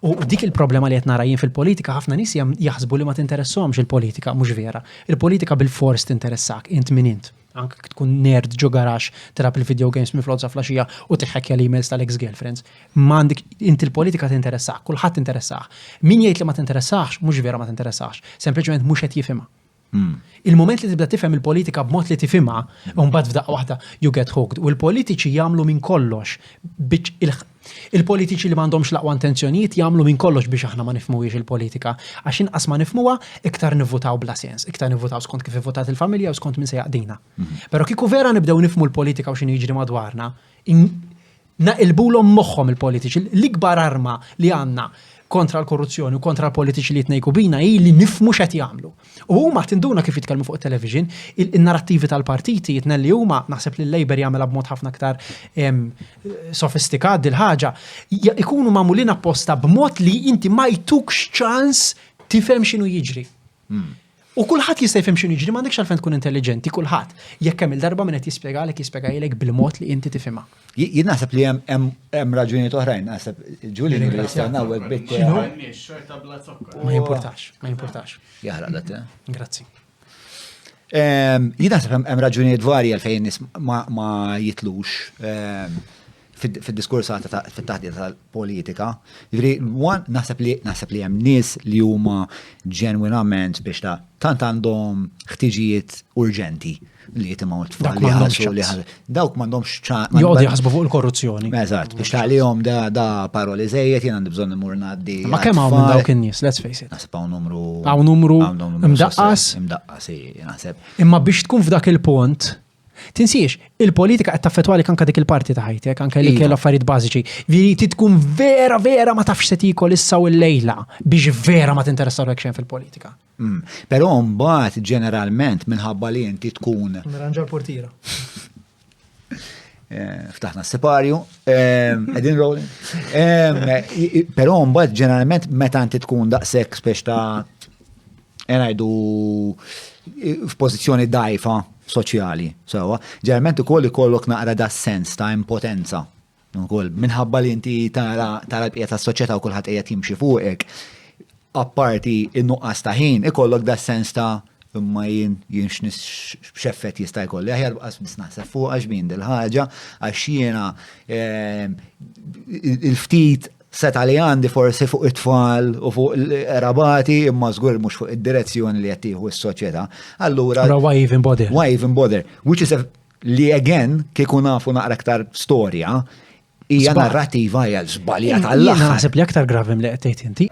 U dik il-problema li qed nara jien fil-politika ħafna nies jaħsbu li ma tinteressahomx il-politika, mhux vera. Il-politika bil-fors tinteressak, int min int. Anke tkun nerd ġo garax tilab il-video games minn flodza flaxija u tiħħekja l-emails tal-ex girlfriends. M'għandek int il-politika tinteressak, kulħadd interessah. Min jgħid li ma tinteressax, mhux vera ma tinteressax, sempliċement mhux qed jifhimha. Hmm. Il-moment li tibda tifhem il-politika b'mod li tifhimha, u mbagħad f'daqqa waħda you get hooked. U l-politiċi jagħmlu minn kollox il-politiċi li m'għandhomx laqwa intenzjonijiet jagħmlu minn kollox biex aħna ma nifmuwiex il-politika. Għax inqas ma nifmuha, iktar nivvutaw bla sens, iktar nivvutaw skont kif ivvotat il-familja u skont minn se jaqdina. Mhm. Però kieku vera nibdew nifmu l-politika u x'inhu jiġri madwarna, Naqilbulhom moħħhom il-politiċi. L-ikbar arma li għandna kontra l-korruzzjoni u kontra l-politiċi li jitnejku bina hi li nifmu x'qed jagħmlu. U huma tinduna kif jitkellmu fuq it-television, in-narrattivi tal-partiti jitnelli huma, naħseb li l-Labour jagħmilha b'mod ħafna aktar sofistikat dil-ħaġa, ikunu magħmulin apposta b'mod li inti ma jtukx ċans tifhem x'inhu jiġri. Hmm. U kulħadd jista' jifhem x'inhu jiġri m'għandekx għalfejn tkun intelliġenti kulħadd. Jekk hemm il-darba minn qed jispjegalek jispjegalek bil-mod li inti tifhimha. Jien naħseb li hemm raġunijiet oħrajn, naħseb ġuli li jistennaw hekk bit. Ma jimpurtax, ma jimpurtax. Jaħraq dat. Eh? Grazzi. Ehm, jien naħseb hemm raġunijiet varji għalfejn ma jitlux. Ehm, fid-diskursata fit-taħdita tal-politika. Ġri, one, naħseb li naħseb li hemm nies li huma ġenwinament biex ta' tant għandhom ħtiġijiet urġenti li jitimgħu tfal li ħassu li dawk m'għandhomx ċaqli. Jgħodu jaħsbu fuq il-korruzzjoni. Eżatt, biex tagħlihom da da paroli żejjed jien għandi bżonn imur ngħaddi. Ma kemm hawn minn dawk in-nies, let's face it. Naħseb hawn numru. Hawn numru. Mdaqqas. Mdaqqas, naħseb. Imma biex tkun f'dak il-punt, Tinsiex, il-politika qed taffetwalik anke dik il-parti ta' ħajtek, anke li kell affarijiet bażiċi. Viri ti tkun vera vera ma tafx se tikol issa u l-lejla biex vera ma tinteressa lek xejn fil-politika. Mm. Però mbagħad ġeneralment minħabba li inti tkun. Nirranġa l-portira. Eh, ftaħna s-separju, edin eh, rolling. Eh, Pero mbagħad ġeneralment meta inti tkun daqshekk speċ ta' Ngħidu f'pożizzjoni dajfa soċjali, sewwa. Ġerment ukoll ikollok naqra da sens ta' impotenza. Ukoll minħabba li inti tara tara l-bqija tas-soċjetà u kulħadd qiegħed jimxi fuqek. Apparti in-nuqqas ta' ħin ikollok da sens ta' imma jien jien x'effett jista' jkolli. Aħjar bqas biss naħseb fuq għax min dil-ħaġa għax jiena ehm, il-ftit seta' li għandi forsi fuq it-tfal u fuq l-rabati imma żgur mhux fuq id-direzzjoni li qed tieħu s-soċjetà. Allura why even bother? Why even bother? Which is a, li again kieku nafu naqra aktar storja hija narrativa hija żbalja tal-aħħar. Naħseb li aktar gravim li qed tgħid inti.